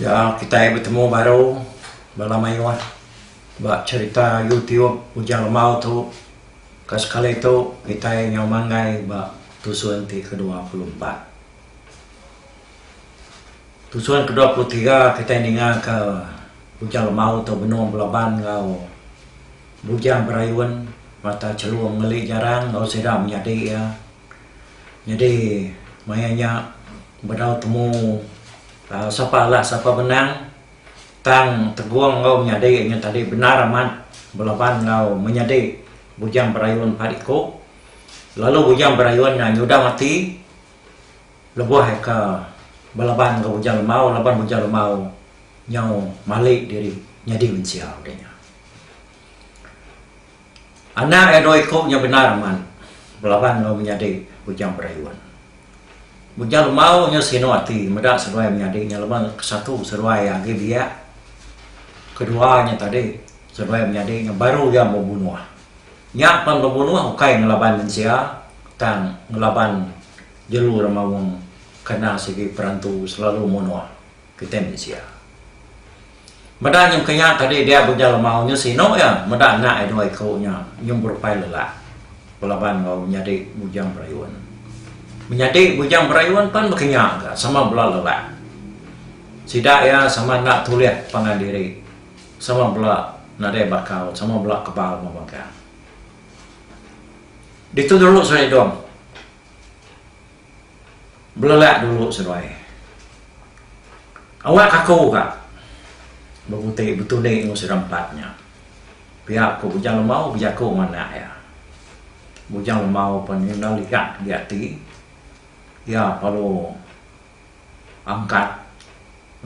Ya kitai betemu baru bala mayuh ba cherita youtube Ujang Lemau tu ka sekali tu kitai nyau manggai ba tusun ti kedua puluh empat. Tusun ke dua puluh tiga kitai ninga ke Bujang Lemau tu benung belaban enggau Bujang Berayun mata Chelum ngeli jarang enggau sida menyadi iya. Nyadi maya nya bedau temu aaa sapa alah sapa benang tang tegung enggau menyadi nyadi tadi bendar amat belaban enggau menyadi Bujang Berayun empat iku lalu Bujang Berayun nya nyudah ati. Lebuh eka belaban enggau bujang lemau laban bujang lemau nyau malik diri nyadi mensia udah nya. Anak iya dua iku nya bendar amat belaban enggau menyadi bujang berayun. Bujang lemau nya sinu ati meda seduai menyadi nya laban kesatu seduai iya agi biak kedua nya tadi seduai menyadi nya baru iya bebunuh. Nya pan bebunuh ukai ngelaban mensia tang ngelaban. Jelu orang maung kena sigi perantu selalu munuh kitai mensia. Meda nyem ke nya tadi dia Bujang Lemau nya sinu iya meda anak iya dua iku nya nyem berupai lelak belaban enggau menyadi Bujang Berayun. Menyadi Bujang Berayun pan baka nya ga sama bela lelak. Sida iya sama enda tulih pangan diri sama bela nadai bakal sama bela kebal mebangkang. Ditu dulu Seri Dong. Belelak dulu seduai. Awak aku ka bebuti betundi enggau sida empat nya. Pia ku Bujang Lemau bejaku enggau anak iya. Bujang Lemau pan enda ligat agi ati. Iya perlu angkat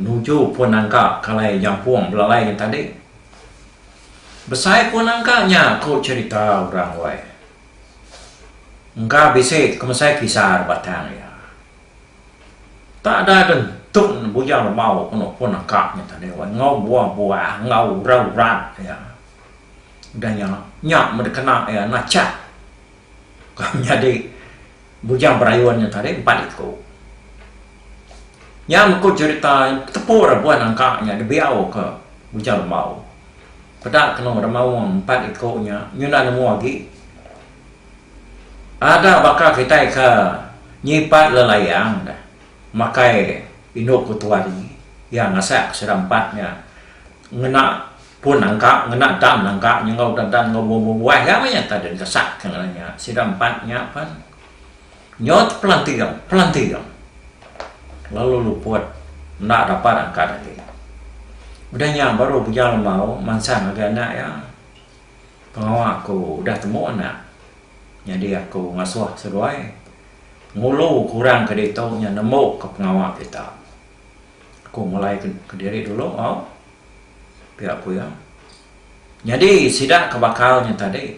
nuju pun nangka kalai jampung belalai nya tadi. Besai pun nangka nya ku cerita orang wei. Engka bisi kemesai kisah da batang iya. Tada de ntun bujang lemau ke nopon naka nya tadi wan enggau buah-buah enggau urat-urat iya. Udah nya, nya meh dikena iya nachah ka nyadi bujang berayun nya tadi empat iku. Nya meh ku cherita tepu raban angka nya dibiau ke bujang lemau. Peda kenu remaung empat iku nya nyudah nemu agi. Ada baka kitai ke nyipat lelayang deh makai indu ku Tuari iya ngasak ke sida empat nya ngena pun nangka ngena dan nangka nyengau da dan ngau buah-buah iya mah nya tadi dikesak ke ngaran nya sida empat nya pen. Nyod pelanting pelanting lalu luput enda dapat angkat agi. Udah nya baru Bujang Lembau mansang ngagai anak iya, Pengawa aku udah temu anak, nyadi aku ngasuh seduai ngulu ke orang ke ditu nya nembu ke pengawa kita. Aku mulai ke diri dulu au, pia ku iya. Nyadi sida ke bakal nya tadi.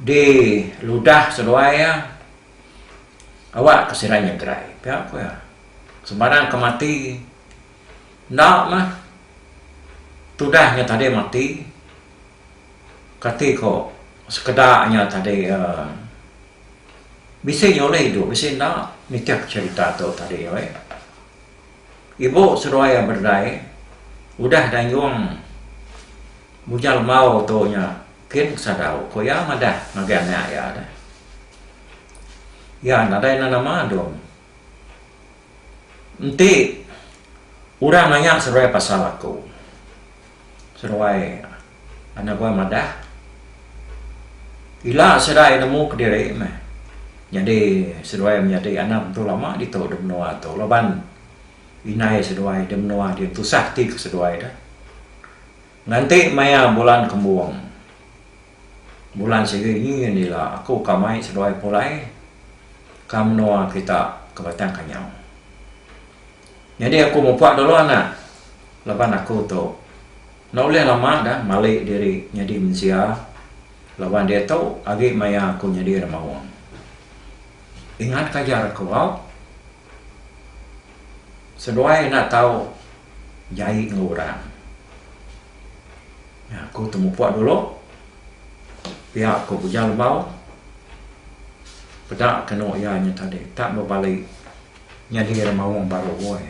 Diludah seduai iya, awakka sida nyegerai pia ku iya. Sembarang ke mati enda mah tudah nya tadi mati kati ko sekeda nya tadi uhh bisi nyulih idup bisi enda nitih cerita tu tadi weh. Ibu seduai iya berdai udah dayung bujang lemau tu nya. Kin Sadau ko iya madah ngagai anak iya deh. Iya nadai nan nama Dong. Enti orang nanya seruai pasal aku. Seruai anak gua madah ila sida iya nemu kediri meh nyadi seduai menyadi anak mentua lama ditu da menua tu laban indai seduai da menua dian tusah ati ku seduai deh. Nganti maya bulan kembung. Bulan sigi ngingin ila aku ka mai seduai pulai ka menua kita ke Batang Kanyau. Nyadi aku mupak dulu anak laban aku tu enda ulih lama dah mali diri nyadi mensia laban diatu agi maya aku nyadi nemaung. Ingatka ajar aku au. Seduai enda tau jai enggau orang. Nya aku temupok dulu pia ku Bujang Lebau peda kenu iya nya tadi tak bebali nyadi ari maung baru woi.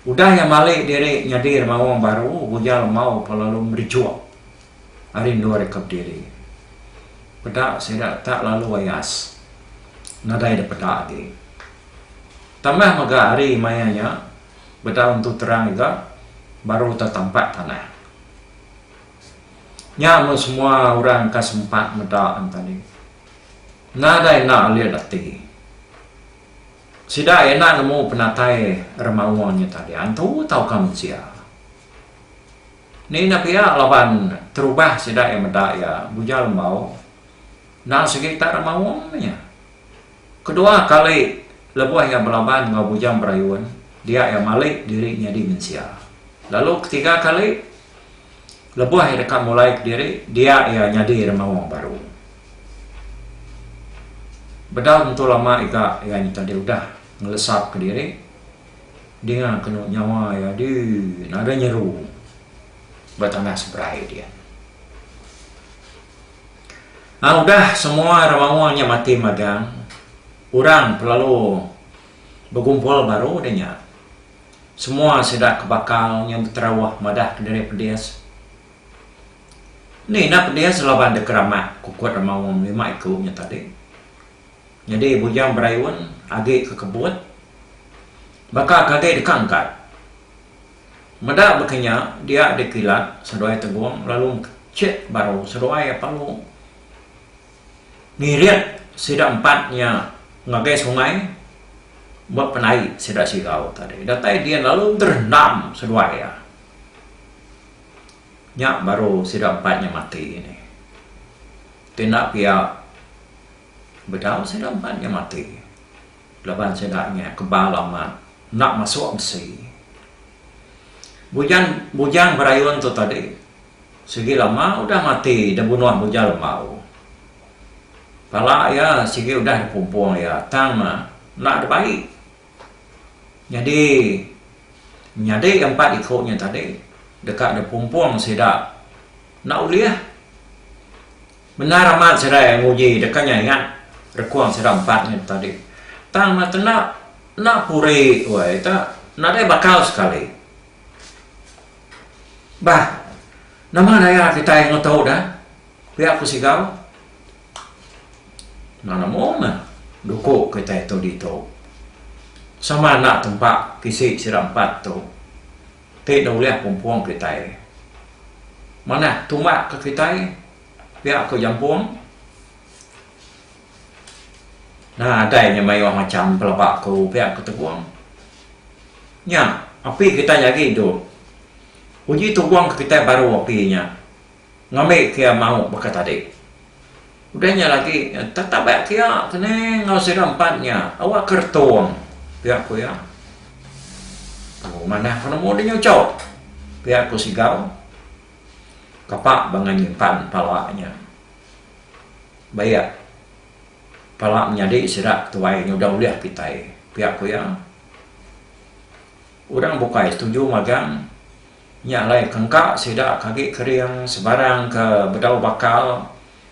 Udah iya mali diri nyadi ari maung baru Bujang Lebau pelalu merejuk. ari endur ika bediri. Peda sida tak lalu ayas nadai da peda agi. Tambah mega hari maya nya bedau entu terang ega baru tau tampak tanah. Nya mun semua orang ka sempat meda an tadi. Nadai enda alit ati. Sida enda nemu penatai remawa nya tadi antu tauka mensia. Ni nya pia laban terubah sida iya meda iya bujal embau endang sigi tak ada maung nya. Kedua kali lebuh iya belaban enggau bujang berayun dia iya mali diri nyadi mensia. Lalu ketiga kali lebuh iya deka mulai kediri dia iya nyadi remaung baru. Bedau tentu lama iga iya nyadi udah ngelesap kediri. Dinga kenu nyawa iya di naga nyeru ba tanah seberai dia. Nah udah semua ra maung nya mati magang, orang pelalu begumpul baru deh nya. Semua sida ke bakal nya beterauh madah ke diri pedis. Ni enda pedis laban deka ramak kukut ra maung lima iku nya tadi. Nyadi bujang berayun agi ke kebut. Baka ke agi deka engkat. Meda baka nya dia dikilat seduai tegong lalu mechek baru seduai apalu ngirit sida empat nya ngagai sungai ba penai sida sigau tadi. Datai din lalu derendam seduai iya. Nya baru sida empat nya mati nih. Ti enda pia Bedau sida empat nya mati laban sida nya kebal amat enda masuk besi. Bujang bujang berayun tu tadi sigi lama udah mati dibunuh bujang lembau. Pala iya sigi udah dipumpung iya tang enda dibai. Nyadi nyadi empat iku nya tadi deka dipumpung sida enda ulih. Bendar amat serai nguji deka nya ingat rekung sida empat nya tu tadi. Tang meh kena enda puri wei ta nadai bakal sekali. Bah nama daya kitai ngetu da pia ku Sigau. Enda nemu meh duku kitai tu ditu. Sama enda tempa pisi sida empat tu. Ti enda ulih pumpung kitai. Manah tumbak ke kitai pia ko jampung. Nadai nya mayuh macham pelaba ko pia ko tebung. Nya api kitai nyagi dok. Uji tebung ke kitai baru api nya. Ngambi kia mau baka tadi. Udah nya lagi tatabat kia kene enggau sida empat nya awak ke retong pia ku iya. Aku manah ke nemu deh nyucok pia ku Sigau. Kapa bangah nyimpan pala nya. Bayak pala menyadi sida tuai nya udah ulih kitai pia ku iya. Orang bukai setuju magang Nya alai ke engka sida ke agi kering sebarang ke bedau bakal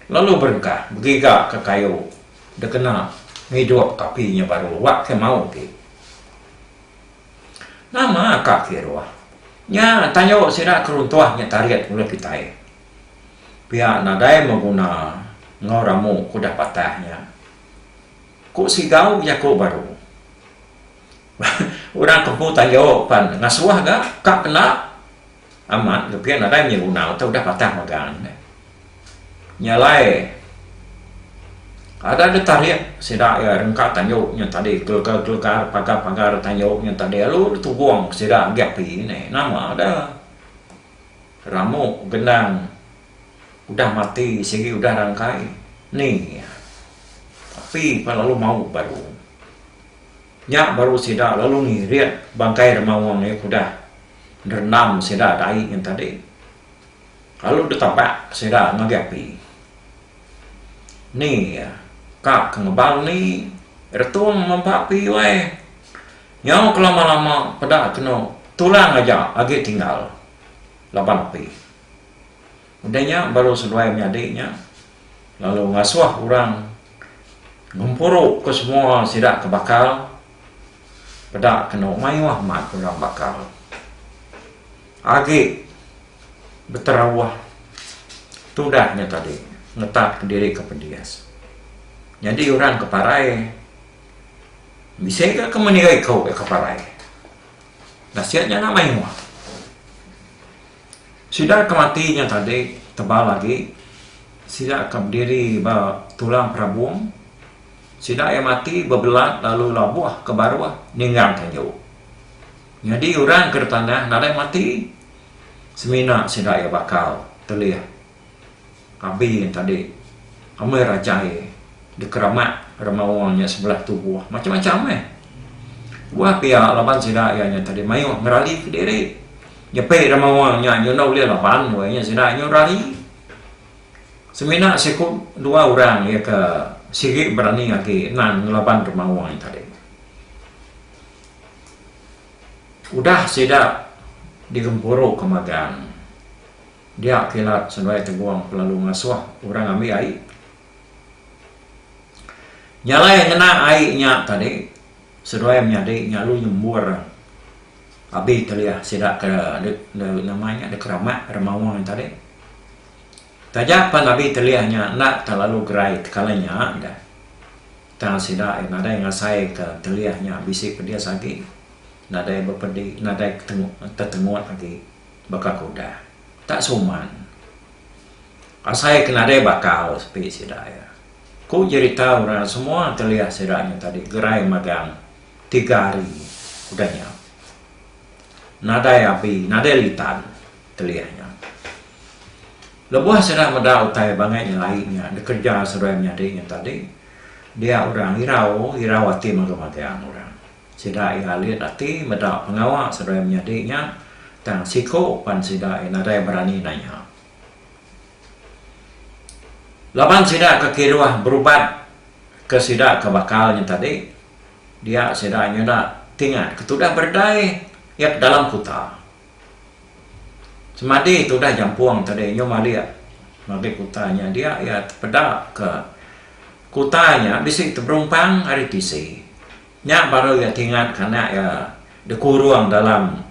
lalu berengkah begiga ke kayu dikena ngidup ke api nya baru awak ke mau agi. Nama ka kiruh nya tayu sida ke runtuh nya tarit ulih kitai pia nadai mau guna enggau ramu ke udah patah nya. Ku Sigau jaku baru. Orang ke empu tayo pan ngasuh ga ka kena amat tapi nadai nya guna utai udah patah magang nya. Nya alai ada ga tarik sida iya rengka tayo nya tadi gelegar-gelegar pagar-pagar tayo nya tadi lalu deh tubong sida agi api neh nama da ramuk gendang udah mati sigi udah rangkai ni iya api pan lalu mauk baru. Nya baru sida lalu ngirit bangkai Rema Wong iya ke udah nderendam sida dai nyen tadi lalu ditabak sida ngagai api. Ni iya ka ke ngebal ni Retung mempa api wai. Nyau ke lama-lama peda kenu tulang aja agi tinggal laban api. Udah nya baru seduai menyadi nya lalu ngasuh orang ngempuru ke semua sida ke bakal peda kenu mayuh mat program bakal agi beterauh tudah nya tadi ngetat ke diri ke pedis. Nyadi orang ke parai bisi ga ke meniga iku ke parai. Nasit nya enda mayuh. Sida ke mati nya tadi tebal agi sida ke bediri ba Tulang Perabung. Sida iya mati bebelat lalu labuh ke baruh ninggang tanju. Nyadi orang ke ditanah nadai mati semina sida iya bakal telih. Abi ngan tadi amai rajai dikeramat ra maoh nya sebelah tubuh macam-macam meh. Tuah pia laban sida iya nya tadi maioh ngerali ke diri. Nyepi ra maoh nya nyudah ulih laban weh nya sida nyu rali. Semina siku dua orang iya ke sigi berani agi nan ngelaban ra maoh nya tadi. Udah sida digempuru ke magang. Dia kila senuai tegong kelalu ngasuh orang ambi ai. Nyalai ngena ai nya tadi seduai menyadi nya lalu nyembur abi telih sida ke nama nya dikeramat ari maung tadi. Taja pan abi telih nya enda telalu gerai tekala nya deh tang sida nadai ngasai ke telih nya bisi pedis agi nadai bepedi nadai tetengut agi. Baka ku udah tak suman asai ke nadai bakal sepi sida iya. Ku jerita orang semua telih sida nya tadi gerai magang tiga hari udah nya. Nadai abi nadai litan telih nya. Lebuh sida meda utai bangai nyelai nya dikereja seduai menyadi nya tadi dia orang irau irau ati magang-magang orang. Sida iya alit ati meda pengawa seduai menyadi nya, tang siku pan sida iya nadai berani nanya. Laban sida ke kiruh berubat ke sida ke bakal nya tadi, dia sida nyuda tingat ke tudah beredai iya ke dalam kuta. Semadi tudah jampung tadi nyum alik ngagai kuta nya, dia iya tepeda ke kuta nya bisi teberumpang ari tisi. Nya baru iya tingat kanak iya dikurung dalam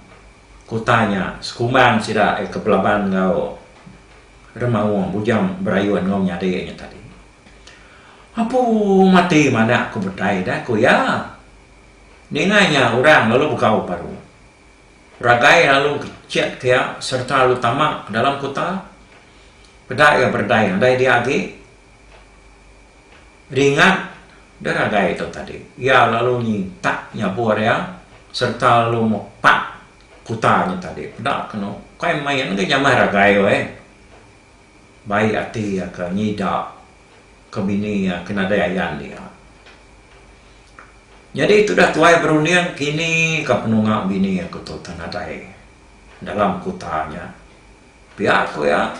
kuta nya sekumbang sida iya ke belaban enggau Remaung bujang berayun enggau menyadi nya tadi. Apu mati mandak ku Betai deh, ku iya. Ninga nya orang lalu begau baru. Ragai lalu kecit ke iya sereta lalu tama dalam kuta. Peda iya beredai andai dia agi Ringat deh ragai tu tadi. Iya lalu nyintak nyabur iya sereta lalu mepak kuta nya tadi. Peda kenu kai main ga nyamai ragai weh. Baik ati iya ke nyida ke bini iya ke nadai ayan dia. Nyadi tudah tuai berunding kini ka penunga bini aku tu nadai dalam kuta nya. Pia ku iya,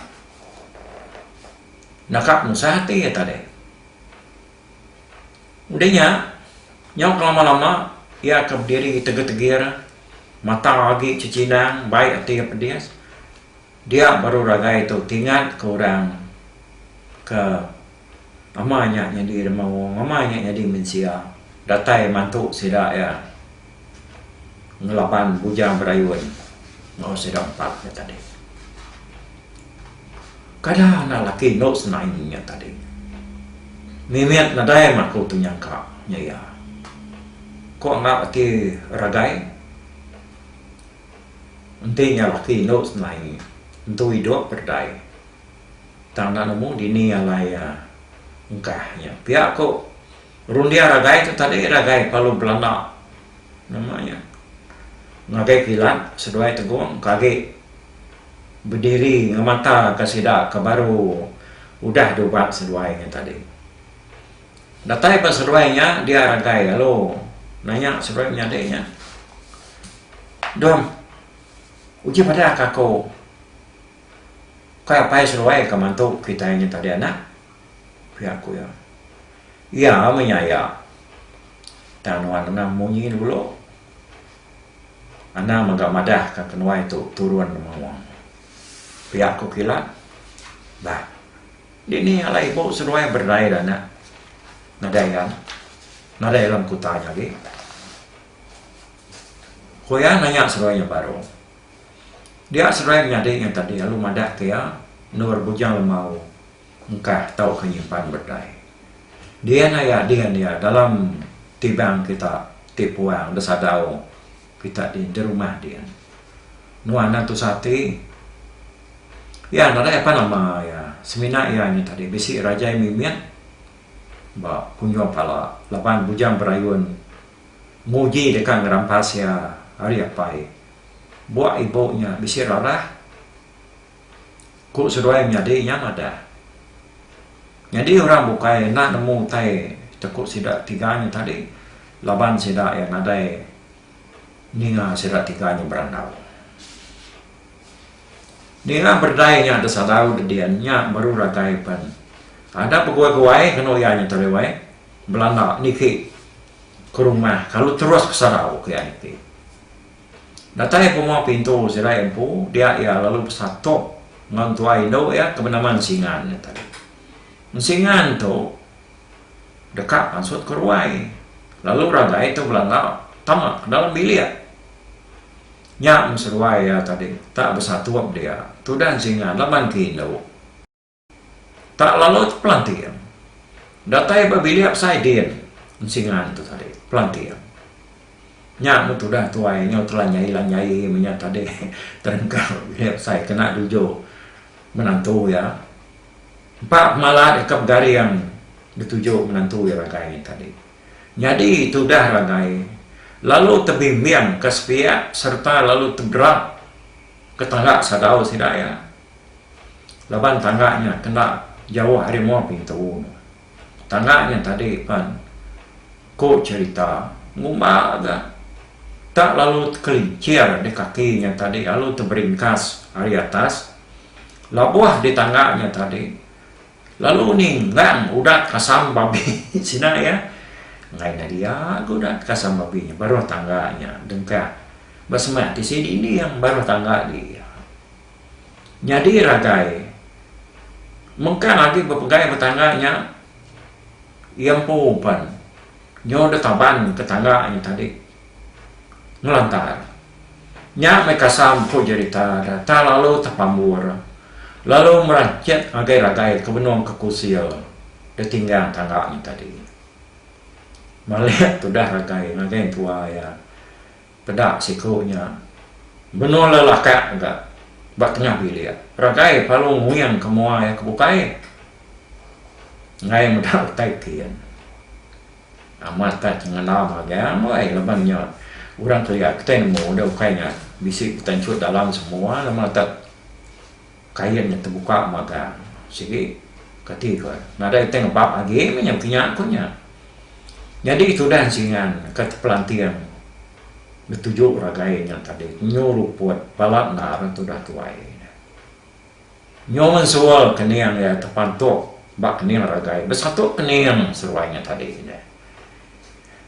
naka penusah ati iya tadi. Udah nya, nyau ke lama-lama iya ke bediri tegir-tegir, mata agi cechinang, bai ati iya pedis. Dia baru ragai tu ti ngat ke orang ke Nama nya nyadi dema wong? Nama nya nyadi mensia? Datai mantu sida iya ngelaban bujang berayun enggau sida empat nya tadi. Kada anak laki endu senaing nya tadi. Mimit nadai mah aku tu nyangka nya iya. Ku anggap ati Ragai enti nya laki endu senaing entu idup bedai. Tanda nemu dini alai iya ungkah nya. Pia ku Rundia Ragai tu tadi Ragai Palu Belanda nama iya ngagai kilat seduai tegong ke agi bediri ngemata ke sida ke baru udah diubat seduai nya tadi. Datai ba seduai nya dia Ragai lalu nanya seduai menyadi nya Dong uji bada ka aku. Kai apai seruai ka mantu kitai nya tadi anak? ku iya ku iya. Iya meh nya iya. Tang nuan anang munyi dulu. Anang mega madah ka kenuai tu turun maung. Pia ku kilat. Bah. Dini alai ibu seruai berdai da anak. Nadai iya. Nadai alam kuta nya agi. Ku iya nanya seruai nya baru. Dia seduai menyadi ngan tadi lalu madah ke iya, Endur Bujang Lemau engkah tauka nyimpan bedai. Din aya din iya dalam tibang kita ti puang da sadau kita din di rumah din. Nuan endang tusah ati. Iya nadai apan lama iya semina iya nya tadi bisi Rajai Mimit ba kunjung pala laban Bujang Berayun nguji deka ngerampas iya ari apai Buak ibu nya bisi ralah, ku seduai menyadi nya madah. Nyadi orang bukai enda nemu utai teku sida tiga nya tadi laban sida iya nadai ninga sida tiga nya berandau. Ninga berdai nya da sadau da din nya baru ragai pen. Ada beguai-guai kenu iya nya tadi wai belanda niki ke rumah kalu terus ke sadau ku iya niki. Datai penguah pintu serai empu dia iya lalu besatuk enggau tuai indu iya ke benama Ensingan nya tadi. Ensingan tu deka mansut ke ruai lalu ragai tu belanga tama ke dalam bilik. Nya meh seruai iya tadi tak besatuk dia. Tudah Ensingan laban ke indu. Tak lalu tu Pelanting. Datai ba bilik besai din ensingan tu tadi Pelanting. Nya meh tudah tuai nyau telanjai-lanjai menya tadi terengkau bilik besai kena duju menantu iya. Empa pemala deka begaring dituju menantu iya ragai nya tadi. Nyadi tudah ragai lalu tebimbingka sepiak sereta lalu tebera ke tangga sadau sida iya. Laban tangga nya kenda jauh ari mua pintu nya. Tangga nya tadi pan ku cherita ngumba ga tak lalu tekelincir di kaki nya tadi lalu teberingkas ari atas labuh di tangga nya tadi lalu ninggang udat kasam babi sida iya enggai enda dia ga udat kasam babi nya baruh tangga nya dengkah ba semak tisi dinding baruh tangga di iya. Nyadi ragai mengkang agi bepegai ba tangga nya iya empu uban nyau deh taban ke tangga nya tadi ngelantar nya meh kasam ku jerita deh tang lalu tepambur lalu meranchet ngagai ragai ke benung ke kusil deh tinggang tangga nya tadi. Maleh tudah ragai ngagai entua iya. Peda siku nya benung lelakak mega ba tengah bilik ragai palu nguing ke mua iya ke bukai enggai meda utai kin. Amat ka chengenam haga meh laban nya orang kelia kitai nemu deh ukai nya bisi betanchut dalam semua lama tek. Kain nya tebuka magang sigi kati ko nadai ti ngebak agi meh nya kinya ko nya. Nyadi tudah singan ka Pelanting betuju ragai nya tadi nyu ruput bala endar tudah tuai nya. Nyu mensul kening iya tepantok ba kening ragai besatu kening seruai nya tadi nya.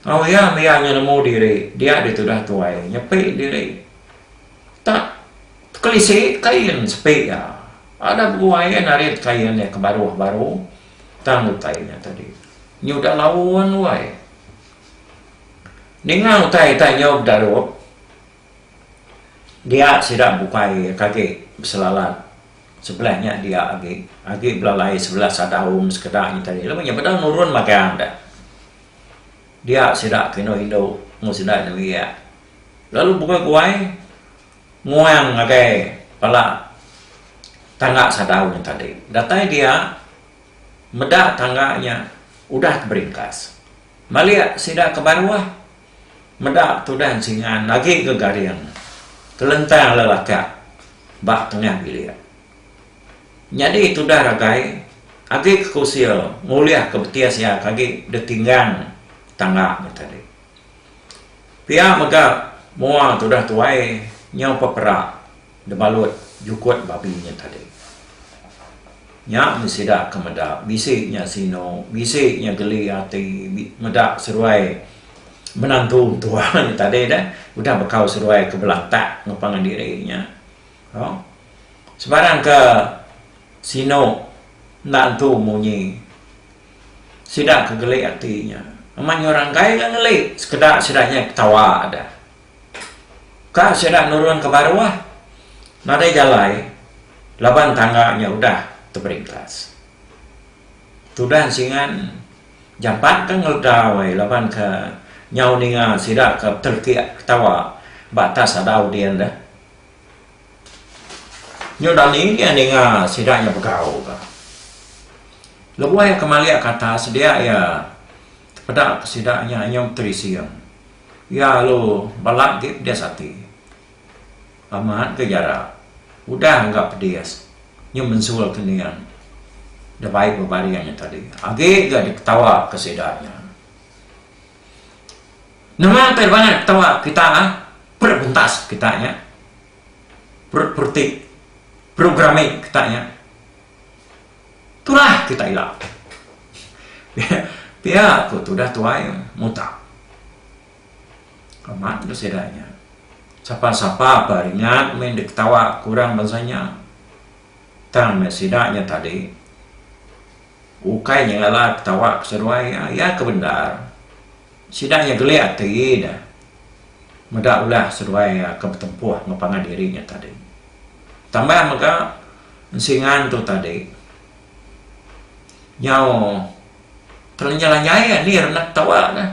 Au iya meh iya nemu diri dia ditudah tuai nyepi diri tak. Tekelisi kain sepi iya. Ada beguai iya narit kain iya ke baruh baru tang utai nya tadi. Nyi udah laun wai. Ninga utai tai nyau bedarup, dia sida bukai iya ke agi beselalat sebelah nya dia agi, agi belalai sebelah sadaum sekeda nya tadi. Laban nya beda nurun magang deh. Dia sida ke indu indu mung sida indu iya. Lalu bukai guai. Nguang ngagai pala tangga sadau nya tadi. Datai dia meda tangga nya udah ke beringkas. Malik sida ke baruh meda tudan singan agi ke garing kelentang lelakak ba tengah bilik. Nyadi tudah ragai agi ke kusil ngulih ke betis iya ke agi ditinggang tangga nya tadi. Pia mega mua tudah tuai nyau peperak debalut jukut babi nya tadi. Nya meh sida ke meda bisi nya sinu, bisi nya geli ati meda seruai menantu mentua nya tadi deh udah bekau seruai ke belatak enggau pangan diri nya. Au. Sebarang ke sinu enda entu munyi. Sida ke geli ati nya amat nyurang kai ga ngeli sekeda sida nyai ketawa da. Ka sida nurun ke baruh nadai jalai laban tangga nya udah teberingkas. Tudan singan jampat ke ngeledau ai laban ke nyau ninga sida ke betelekik ketawa ba atas adau din da. Nyau Darling iya ninga sida nya begau ka. Lebuh iya kemali kata sedia iya tepeda ke sida nya nyau Tri Sieng. Iya alu bala agi pedis ati. Amat ke jarak udah engga pedis nyau mensul ke ning debai bebaring nya tadi. Agi ga diketawa ke sida nya. Nama utai bangat ketawa kita lah, perut bentas kita nya, perut pereti, perut gerami kita nya. Tulah kita ila. Pia ku tudah tuai mutak. Amat ga sida nya. Sapa-sapa pa ringat meh enda ketawa ku orang bansa nya. Tang meh sida nya tadi. Ukai nyengala ketawa ke seduai iya, iya ke bendar. Sida nya gelik ati ida meda ulah seduai iya ke betempuh enggau pangan diri nya tadi. Tambah mega, ensingan tu tadi nyau telanjai-lanjai iya ni renak ketawa ne.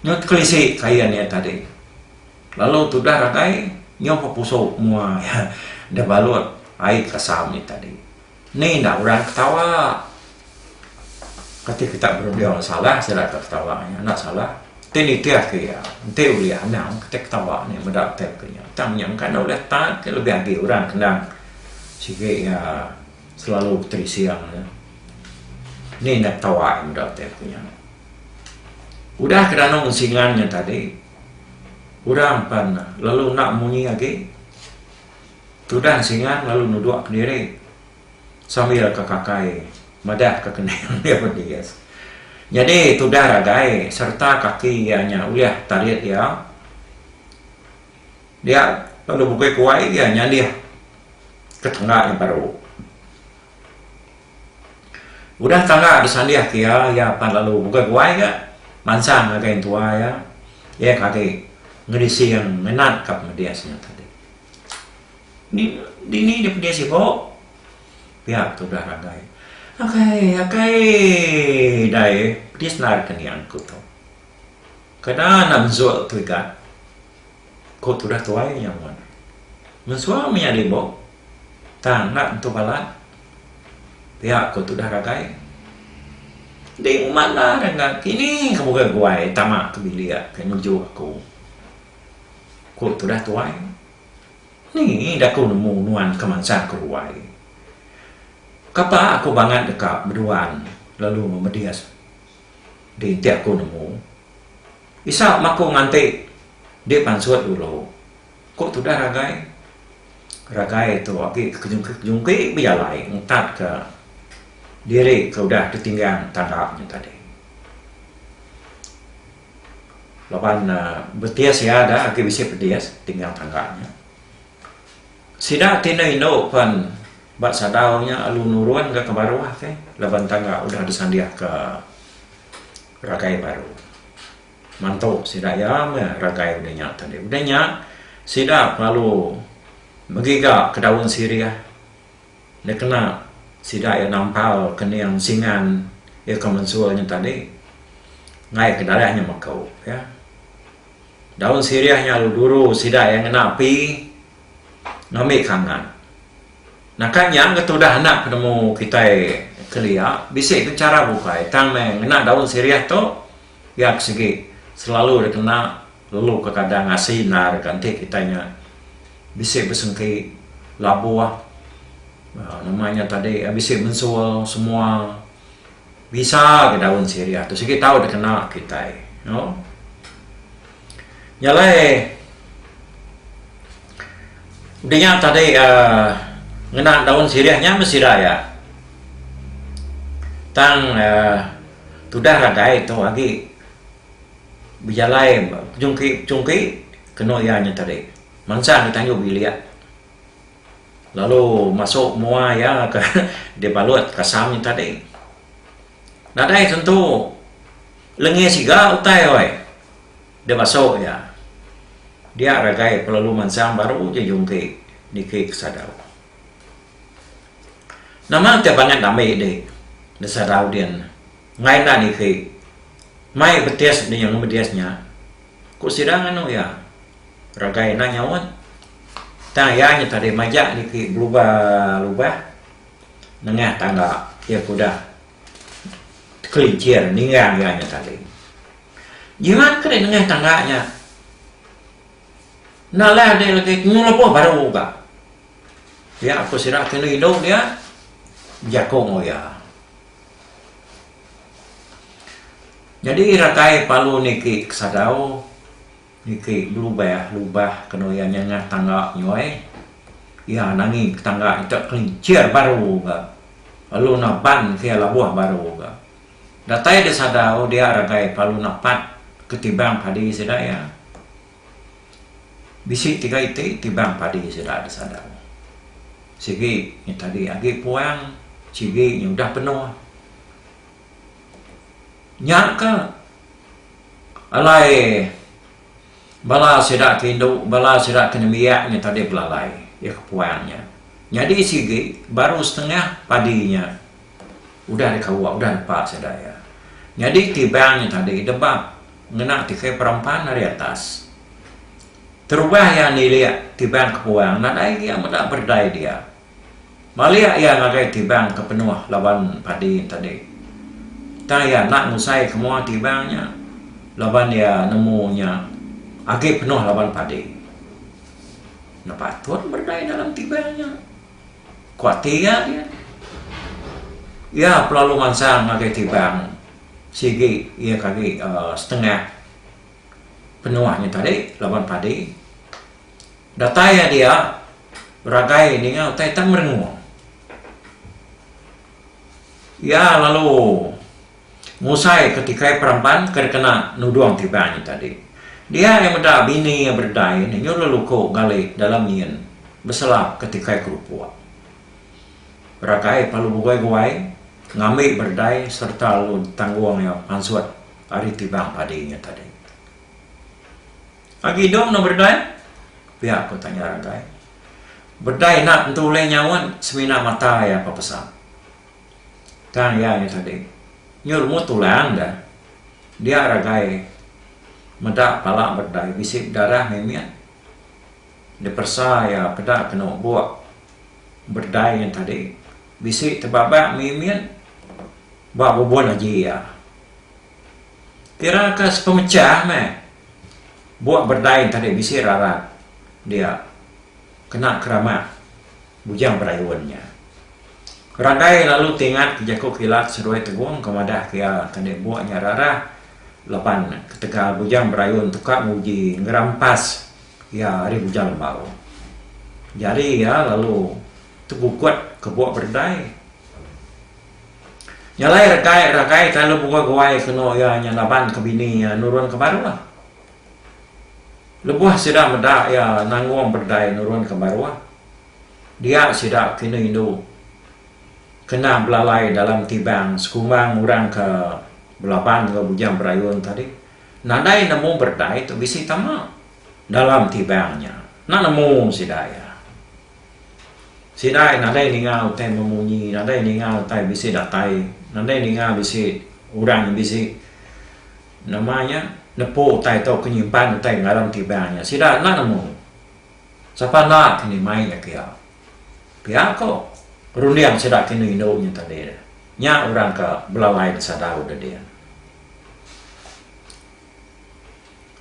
Nyau tekelisi kain iya tadi lalu tudah ragai nyau pepusu mua iya da balut ai kasam iya tadi. Ni enda orang ketawa. Kati kitak berunding salah sida ka ketawa nya. Enda salah. Ti nitih ke iya. Enti ulih anang kitai ketawa nya meda utai ke nya. Tang nya engka enda ulih tan ke lebih agi orang kendang sigi iya selalu beterising nya. Ni enda ketawa iya meda utai ke nya. Udah ke danum singan nya tadi, orang pan lalu enda munyi agi. Tudah Singang lalu nuduk kediri sambil ke kakai madah ke kening iya bedis. Nyadi tudah ragai sereta kaki iya nya ulih tarit iya dia lalu bukui kuai iya nyalih ke tangga nya baru. Udah tangga disalih ke iya, iya pan lalu bukui kuai nya mansang ngagai entua iya, iya ke agi ngedising ngenat ka pemedis nya tadi. Ni dini nya pedis ibu. Pia ke udah ragai. Akai akai dai pedis nai raka nia ku tu. Kada anak mensua tu ika. Ku tudah tuai nya mun. Mensua mih nyadi ibu. Tang enda tentu bala. Pia ku tudah ragai. Di uma enda re kini ke bukai guai tama ke bilik ke nuju aku. Ku tudah tuai, Ni daku nemu nuan ke mansang ke ruai. Kapa aku bangat deka beduan lalu memedis di enti aku nemu. Isa maku nganti di pansut dulu, ku tudah Ragai. Ragai tu agi ke kejungki-kejungki bejalai ngetatka diri ke udah ditinggang tanda nya tadi. Laban betis iya da agi bisi pedis tinggal tangga nya. Sida ti enda indu pen ba sadau nya alu nurun ga ke baruh ake laban tangga udah disandik ka ragai baru. Mantu sida iya meh ragai udah nya tadi. Udah nya sida pengalu begiga ke daun sirih. Nya kena sida iya nampal kening singan iya ke mensul nya tadi ngai ke dalah nya meko iya. Daun sirih nya lalu duru sida iya ngena api ngambi kangan. Naka nya ke tudah enda penemu kitai kelia bisi ke chara bukai tang meh ngena daun sirih tu. Nya ke sigi, selalu dikena lelu ke kada ngasi endar deka enti kitai nya bisi besengki, labuh uhh nama nya tadi bisi mensul semua bisa ga daun sirih tu sigi tau dikena kitai. Nya alai dinga tadi um ngena daun sirih nya meh sida iya. Tang um tudah nadai tu agi bejalai pejungki pejungki kenu iya nya tadi. Mansang di tandu bilik lalu masu mua iya ka dibalut kasam nya tadi. Nadai tentu lengih siga utai oi. Da masu nya, dia ragai pelalu mansang baru ja jungki niki ke sadau. Nama ke bangat dami dih da sadau din ngai enda niki mai betis di nyengah bedis nya ku sida nganu iya ragai enda nyaut tang iya nya tadi majak niki belubah lubah. nengah tanda iya ke udah tekelincir ningang iya nya tadi. Jiran ke dei nengah tanda nya enda leh dei legi temu lebuh baru ga. Pia ku sida ke enda indu dia bejako enggau iya. Nyadi ratai palu niki ke sadau Niki belubah lubah kenu iya nyengah tangga nyoi. Iya nangi ke tangga ita kelincir baru ga lalu naban ke iya labuh baru ga. Datai deh sadau dia ragai pelalu napat ke tibang padi sida iya. Bisi tiga iti tibang padi sida deh sadau. Sigi nya tadi agi puang, sigi nya udah penuh. Nya ka Alai bala sida ke indu, bala sida ke nembiak nya tadi belalai, iya ke puan nya. Nyadi sigi baru setengah padi nya udah dikawa, udah nepa sida iya. Nyadi tibang nya tadi debap ngena tikai perempan ari atas. Terubah iya nilik tibang ke puan nadai iya meda berdai dia. Malik iya ngagai tibang ke penuh laban padi tadi. Tang iya enda ngusai ke mua tibang nya laban iya nemu nya agi penuh laban padi. Nya patut berdai dalam tibang nya, ku ati iya dia. Iya pelalu mansang ngagai tibang sigi iya ke agi setengah penuh nya tadi laban padi. Datai iya dia, beragai ninga utai ita merengung. Iya lalu ngusai ke tikai peramban ke dikena nudung ti iban nya tadi. Dia iya meda bini iya beredai nya nyuruh luku ngali dalam nyin beselap ke tikai kerupuk. Beragai pa lu beguai-guai ngambi beredai sereta lu tanggung iya pansut ari tibang padi nya tadi. Agi dong enggau berdai? Pia ku tanya Ragai. Berdai enda tentu ulih nyaut semina mata iya ke pesak. Tang iya nya tadi nyu rumu tulang dah. Dia Ragai meda pala berdai bisi bedarah mimit. Diperesa iya peda kenu buk berdai nya tadi bisi tebabak mimit ba bubun aji iya. Kira ka sepemechah meh buak berdai enti deh bisi rarat dia kena keramat Bujang Berayun nya. Ragai lalu tingat ke jaku kilat Seruai Tegong ke madahka iya enti deh buak nya rarah laban ketegal Bujang Berayun tuka nguji ngerampas iya ari Bujang Lembau. Jari iya lalu tegugut ke buak berdai. Nya alai rekai rakai kai lu buah guai kenu iya nya laban ke bini iya nurun ke baruh. Lebuh sida meda iya nanggung berdai nurun ke baruh dia sida kenu indu kena belalai dalam tibang sekumbang orang ke belaban enggau bujang berayun tadi nadai nemu berdai tu bisi tama dalam tibang nya. Enda nemu sida iya. Sidai nadai ninga utai memunyi, nadai ninga utai bisi datai, nadai ninga bisi orang ke bisi nama nya nepu utai tauka nyimpan utai ngaran tiba nya. Sida enda nemu. Sapa enda kini mai nya pia. Pia ko runding sida ke indu indu nya tadi. Nya orang ke belalai besadau dadin.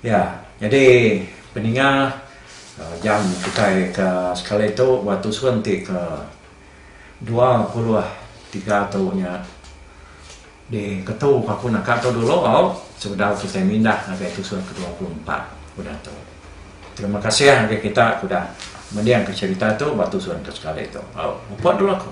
Ya, nyadi peninga jam kitai ke sekali tu ba tusun ti ke dua puluh tiga tu nya diketu papu naka tu dulu sebedau kitai mindah ngagai tusun ke dua puluh empat udah tu. Terima kasih ngagai kita ke udah mendingka cherita tu ba tusun ke sekali tu. Au, muput dulu aku.